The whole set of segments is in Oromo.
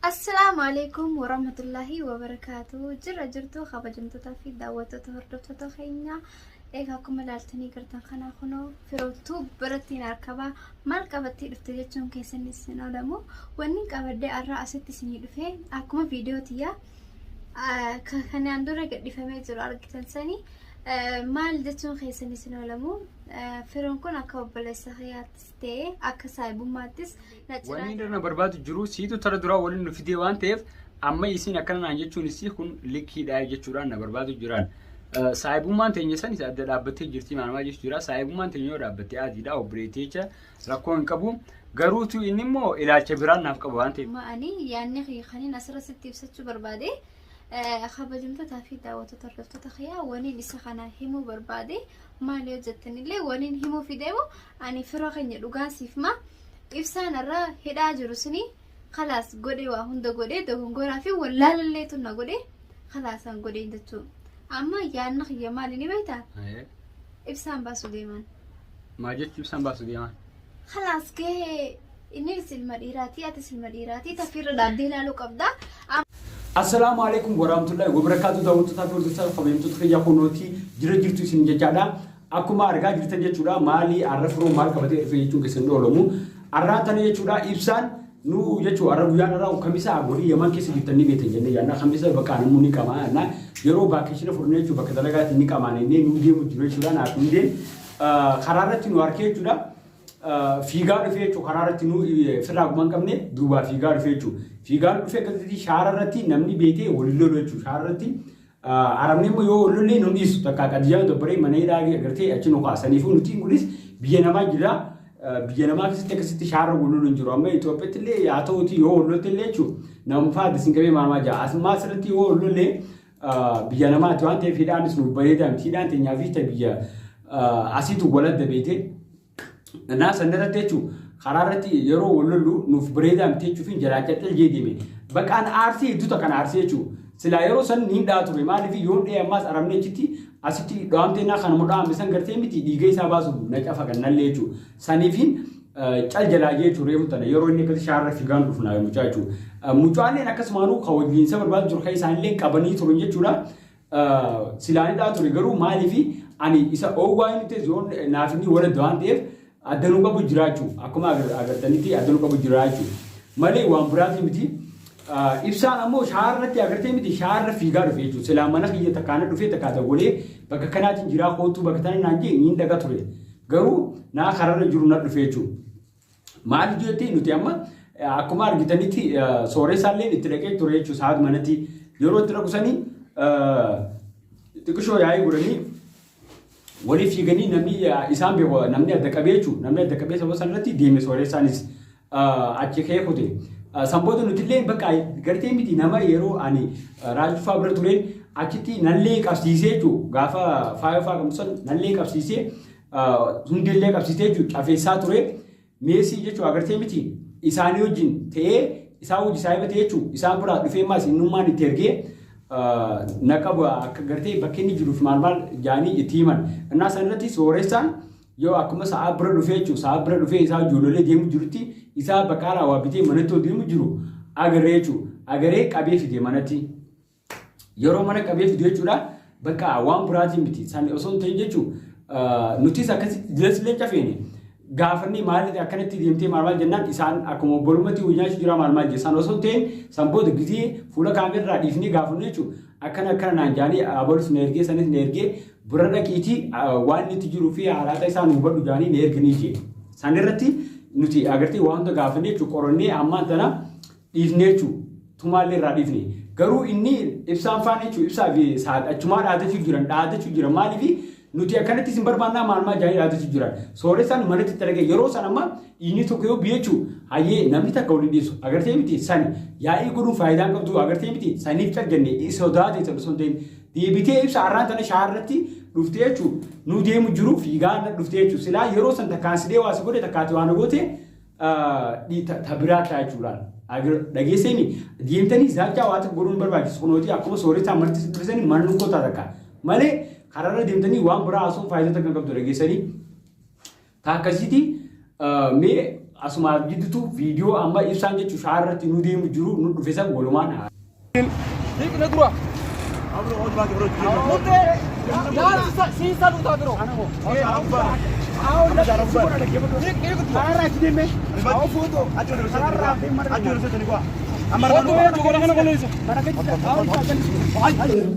Assalaamu alaikum warahmatullahi wabarakaatu. Jirra jirtu kabajamtootaa fi daawwattoota hordoftoota keenya. Egaa akkuma ilaaltanii gartan kanaa kunoo firoottuu birattiin harkabaa maal qabattee dhufte jechuun keessan isin oolamu. Wanni qabadde har'a asitti isinii dhufe akkuma viidiyoo tiyyaa kanaan dura gadhifamee jiru argitan sanii maal jechuun keessan isin oolamu. Firoon kun akka obboleessa kiyyaattis ta'ee akka saahibummaattis Wanni irra barbaadu jiru siitu tara duraa waliin nu fidee waan ta'eef amma isiin akkana naan jechuun isii kun likkiidhaa jechuudhaan na barbaadu jiraan. Saayibummaan teenya san isa adda dhaabbattee jirti maanamaa jechuun jira. Saayibummaan teenya yoo dhaabbattee adiidha obboleettii jecha rakkoo hin qabu. Garuutu inni immoo ilaalcha biraan naaf qaba waan ta'eef. Ma'anii yaadni kiyya kaniin asirra sitti ibsachuu barbaade kabajamtootaa fi daawwattoota hordoftoota kiyyaa waniin isa kana himuu barbaade maal yoo jettanillee waniin himuu fideemu ani fira keenya dhugaa siif maa. ibsaan irraa hidhaa jiru suni kalaas godhe waa hunda godhe dogongoraa fi wallaalallee tunna godhe kalaasan godhe jechuu amma yaadna kiyya maali ni beekta Ayee. ibsaan baasu deeman Maa jechuun isaan baasu deemaa? kalaas gahee inni ilma dhiiraatii atis ilma dhiiraatii tafiirra dhaabbee ilaaluu qabda Assalaamu alaikum warahmatullahi wabarakatuh daawwattoota fi hordoftoota kabajamtoota kiyya kunooti jira jirtu isin jechaadha. Akkuma argaa jirtan jechuudha maalii arra firoo maal qabatee dhufee jechuun keessan dhoolamu. Arraan tana jechuudha ibsaan nu jechuu arra guyyaan arraa kamisa warri yaman keessa jirtan ni beektan jennee yaannaa kamisa bakka namuu ni qamaa yaannaa yeroo vaakeshina fudhannee jechuu bakka dalagaatti ni qamaan jennee nu deemu jiru jechuudha naaf nu deemu karaa irratti nu harkee jechuudha. Fiigaa dhufee jechuudha karaa irratti nu firraa gumaan qabne duubaa fiigaa dhufee jechuudha. Fiigaan dhufee akkasitti shaara irratti namni beekee waliin lolu jechuudha shaara irratti Arabni immoo yoo ollollee nu dhiisu takka qadiyyaa dabbaree mana hidhaa agartee achi nu kaasaniifuu nutiin kunis biyya namaa jira biyya namaa keessatti akkasitti shaarra gulluun hin jiru amma Itoophiyaatti illee yaa ta'uuti yoo ollotti illee jechuun nama faati sin qabee maamaa jira asummaa asirratti yoo ollollee biyya namaati waan ta'eef hidhaanis nu bareedaa miti hidhaan teenyaa fi biyya asiitu waladda beekte Naa san irratti jechuun karaa irratti yeroo wal lollu nuuf bareedaa miti jechuufiin jalaa calcal jee deeme. Baqaan aarsee hedduuta kan aarsee jechuun silaa yeroo san niin dha'a ture maaliif yoon dha'e ammaas arabni achitti asitti dhaamtee naa kanuma dhaame san gartee miti dhiiga isaa baasuuf na cafa kan nallee jechuun saniifiin cal jalaa jee jechuun reefu tana yeroo inni akkasii shaarra figaan dhufnaa mucaa jechuun mucaalleen akkasumaanuu kan wajjin isa barbaadu jiru kan isaanillee qabanii turan jechuudha. Silaa ni dhaa ture garuu maaliif ani isa oowwaa inni ta'e zoon naaf inni waladda waan ta'eef addanuu qabu jiraachuu akkuma agartanitti addanuu qabu jiraachuu malee waan biraati miti. Ibsaan ammoo shaarratti agartee miti shaarra fiigaa dhufe jechuudha. Silaa mana kiyya takkaana dhufee takkaa dawwalee bakka kanaatiin jiraa kootuu bakka tana naan jee niin dhaga ture. Garuu naa kararra jiru na dhufe jechuudha. Maaliif jettee nuti amma akkuma argitanitti sooreessaallee itti dhaqee ture jechuudha saat manatti yeroo itti dhaqu sanii xiqqishoo yaa'ii godhanii waliif fiiganii namni isaan beeku namni adda qabee jechuudha namni adda qabee sababa sanarratti deeme sooreessaanis achi kee kute. Sanboota nuti illee bakka gartee miti nama yeroo ani raajifaa bira ture achitti nallee qabsiisee jechuudha gaafa faayofaa qabsan nallee qabsiisee hundeellee qabsiisee jechuun cafeessaa ture meesii jechuun agartee miti isaanii wajjin ta'ee isaa hojii isaa himatee jechuun isaan biraa dhufee maas innummaan itti ergee naqa bu'aa akka gartee bakki inni jiruuf maal maal jaanii itti himan innaa san irratti sooressaan yoo akkuma sa'a bira dhufee jechuun sa'a bira dhufee isaa ijoollee deemu jirutti isaa bakka alaa waa bitee manatti deemu jiru agarree jechuun agaree qabee fide manatti. Yeroo mana qabee fidu jechuudha. Bakka waan biraatiin miti. San osoo hin ta'in jechuun nutis akkasi jilas leenca feene. Gaafannee maaliif akkanatti deemtee maal maal jennaan isaan akkuma obbolummaatti hojii nyaachuu jira maal maal jessan osoo hin ta'in san booda gizee fuula kaameerraa dhiifnee gaafannu jechuun akkana akkana naan jaanii abalus na ergee sanis na ergee bira dhaqiitii waan itti jiruu fi haalaata isaan hubadhu jaanii na erganii jee. San irratti nuti agartee waan hunda gaafannee jechuun qorannee ammaan tana dhiifne jechu tumaalle irraa dhiifne garuu inni ibsaan faan jechu ibsaa fi saad achumaa dhaadachu jiran dhaadachu jiran maaliif nuti akkanatti isin barbaannaa maalmaa jaanii dhaadachu jiran sooressaan manatti itti argee yeroo san amma dhiinii tokko yoo biyechu hayyee namni takka waliin dhiisu agartee miti sani yaa'ii godhuun faayidaan qabdu agartee miti saniif caljanne sodaate isa osoo hin ta'in deebitee ibsa har'aan tana shaarratti dhuftee jechuun nu deemu jiruuf fiigaa dhuftee jechuun silaa yeroo san takkaan sidhee waa si godhe takkaati waan goote ta biraa kiraa jechuudhaan dhageessanii deemtanii zaachaa waa tokko godhuun barbaachisu kunooti akkuma sooretaa marti sibilisanii maalin kootaa takka malee karaarra deemtanii waan biraa haasoo faayidaa takka qabdu dhageessanii ta akkasiitii mee asumaaf giddutu viidiyoo amma ibsaan jechuun shaarratti nu deemu jiru nu dhufesan walumaan Hiikna dura.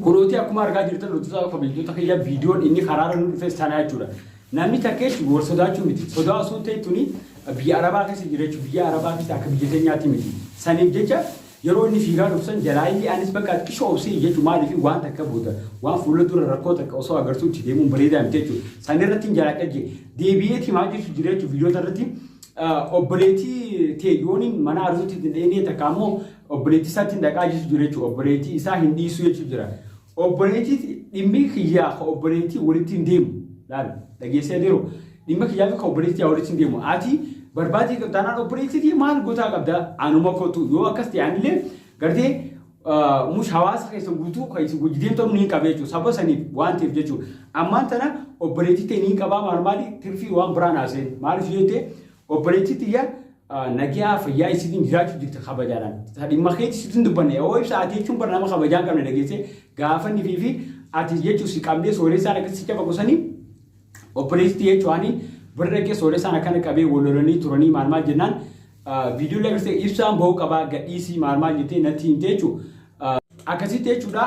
Kunuuti akkuma argaa jirtan hojjetaa kabajjoota kiyya viidiyoon inni karaara nu dhufes sanaa jechuudha. Namni takkeetti wal sodaachuu miti. Sodaa osoo ta'e tuni biyya Arabaa keessa jira jechuudha. Biyya Arabaa keessa akka biyya keenyaatti miti. Saniif jecha Yeroo inni fiigaa dhufu san jalaa iyyee anis bakka xiqqisho obsee iyyachuu maaliif waan takka booda waan fuula dura rakkoo takka osoo agartuu itti deemuun bareedaa miti jechuudha. San irratti hin jalaa dhagge deebi'ee timaa jechuun jira jechuun viidiyoota irratti obboleettii tee yooniin mana arzuutti hin dheenee takka ammoo obboleettii isaatti hin dhaqaa jechuun jira jechuudha. Obboleettii isaa hin dhiisuu jechuun jira. Obboleettiiti dhimmi kiyyaa ka obboleettii walitti hin deemu. Laal dhageessee deemu. Dhimma kiyyaa fi ka obboleettii yaa walitti hin deemu. Ati barbaadii qabda taanaan obboleettiiti maal gotaa qabda anuma kootu yoo akkas ta'e anillee gartee mush hawaasa keessa guutuu kan isin wajji deemtamu ni qabee jechuudha. Saba saniif waan ta'eef jechuudha. Ammaan tana obboleettii ta'e ni qabaa maal maali tirfii waan biraan haaseen maaliif yoo ta'e Obboleettii tiyya nagiyaa fayyaa isiitiin jiraachuu jirti kabajaadhaan. Dhimma keetti sitin dubbanne yoo ibsa ati jechuun bara nama kabajaan qabne dhageessee gaafanni fi fi ati jechuun si qabdee sooressaan akka si cafa qusanii obboleettii jechuun bira dhaqee sooressaan akkana qabee wal lolanii turanii maal maal jennaan viidiyoo lagartee ibsaan ba'uu qabaa gadhiisii maal maal jettee natti himte jechuun Akkasitti jechuudha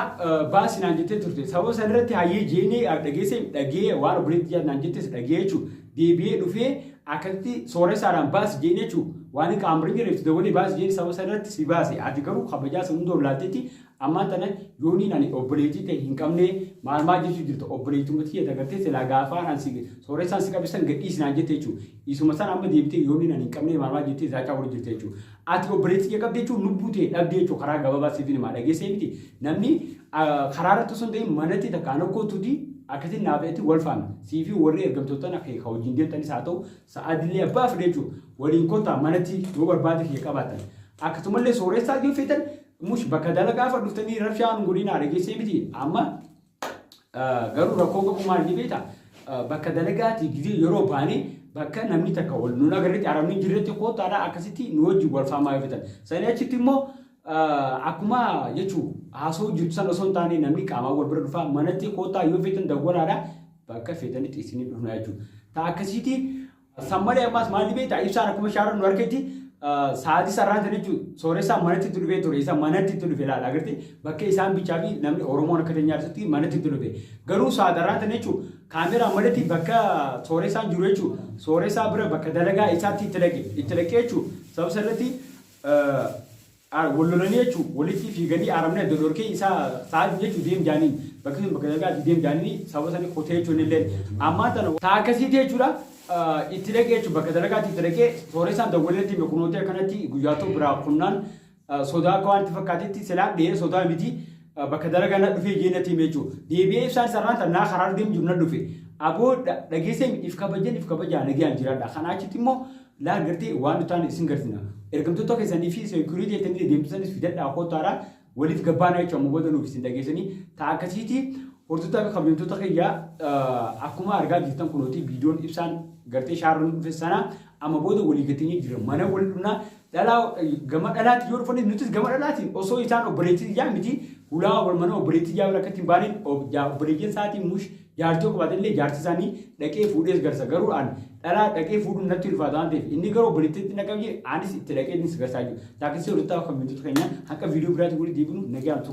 baasi naan jettee turte. Sababa san irratti hayyee jeenee dhageesse dhagee waan obboleetti jaal naan jettes dhagee jechuudha. Deebi'ee dhufee akkasitti sooressaadhaan baasi jeen jechuudha. Waan hin qaamrin jireef itti dabalee baasi jeen sababa san irratti si baase. Ati garuu kabajaa san hunda ollaaltetti ammaan tana yooniin ani obboleettii ta'e hin qabne maal maal jechuu jirta obboleettummaa tiyya dagartee silaa gaafaan ani si sooressaan si qabisan gadhiisi naan jette jechuudha. Isuma san amma deebitee yooniin ani hin qabne maal maal jettee zaacaa wal jirta jechuudha. Ati obboleetti kee qabde jechuun lubbuu tee dhabde jechuudha karaa gababaa siifin himaa dhageessee miti namni karaa irratti osoo hin ta'in manatti takka ana kootuti akkasin naaf eti wal faana siifi warri ergamtoottan akka kee ka wajjin deemtanis haa ta'u sa'aadillee abbaa fedhe jechuudha waliin kottaa manatti yoo barbaada kiyya qabaatan akkasumallee sooressaa yoo feetan mush bakka dalagaafa dhuftanii rabshaa nu godhinaa dhageessee miti amma Garuu rakkoo qabu maal ni beektaa? Bakka dalagaatii gizee yeroo baane bakka namni takka wal nun agarretti arabni hin jirretti koottaadhaa akkasitti nu wajjin wal faamaa yoo fitan. Sanii achitti immoo akkuma jechuu haasoo jirtu san osoo hin taane namni qaamaan wal bira dhufaa manatti koottaa yoo feetan dawwalaadhaa bakka feetanitti isinii dhufnaa jechuudha. Taa akkasiitii San malee ammas maalli beektaa ibsaan akkuma shaaran nu harkatti sa'aatii sararaan sana jechuun sooressaan manatti itti dhufee ture. Isa manatti itti dhufe laala agartee bakka isaan bichaa fi namni Oromoon akka teenyaa jirtutti manatti itti dhufe. Garuu saataraan sana jechuun kaameraan manatti bakka sooressaan jiru jechuun sooressaa bira bakka dalagaa isaatti itti dhaqe itti dhaqee jechuun sababa sanatti Aara wal lolanii jechu walitii fiiganii aaramni adda dhorkee isaa sa'aati jechu deem jaaniin bakki sun bakka dalgaa ati deem jaaniin sababa sani kotee jechu inni illeen ammaan tana ta'a akkasiiti jechudha itti dhaqee jechu bakka dalagaati itti dhaqee sooresaan dawwalee natti hime kunooti akkanatti guyyaa too biraa kunnaan sodaa akka waan itti fakkaatetti silaan dhiyee sodaa miti bakka dalagaa na dhufee jee natti hime jechu deebi'ee ibsaan sarraan tannaa karaa deem jiru na dhufe aboo dhageessee if kabajeen if kabajaa nagayaan jiraadha kanaa achitti immoo Laal gartee waan nu taane isin garsina. Ergamtoota keessanii fi security jettanii deemtu sanis fidadhaa koottaara waliif gabbaanaa jechuun amma booda nuuf isin dhageessanii ta'a akkasiiti hordoftoota fi kabajamtoota kiyya akkuma argaa jirtan kunooti viidiyoon ibsaan gartee shaarran dhufe sana amma booda walii gateenyee jira mana wal dhufnaa dhalaa gama dhalaati yoo dhufanii nutis gama dhalaati osoo isaan obboleettii yaa miti hulaa wal mana obboleettii yaa bira akkatti hin baane obboleettiin sa'aatiin mush Jaartii yoo qabaate illee jaarsi isaanii dhaqee fuudhees garsa garuu an dhalaa dhaqee fuudhuun natti ulfaata waan ta'eef inni garuu obboleettiitti na qabje anis itti dhaqee ni sigarsaa jiru. Taakisii hojjetaa kan miiltota keenya haqa viidiyoo biraatiin walitti deebinu nagaan tura.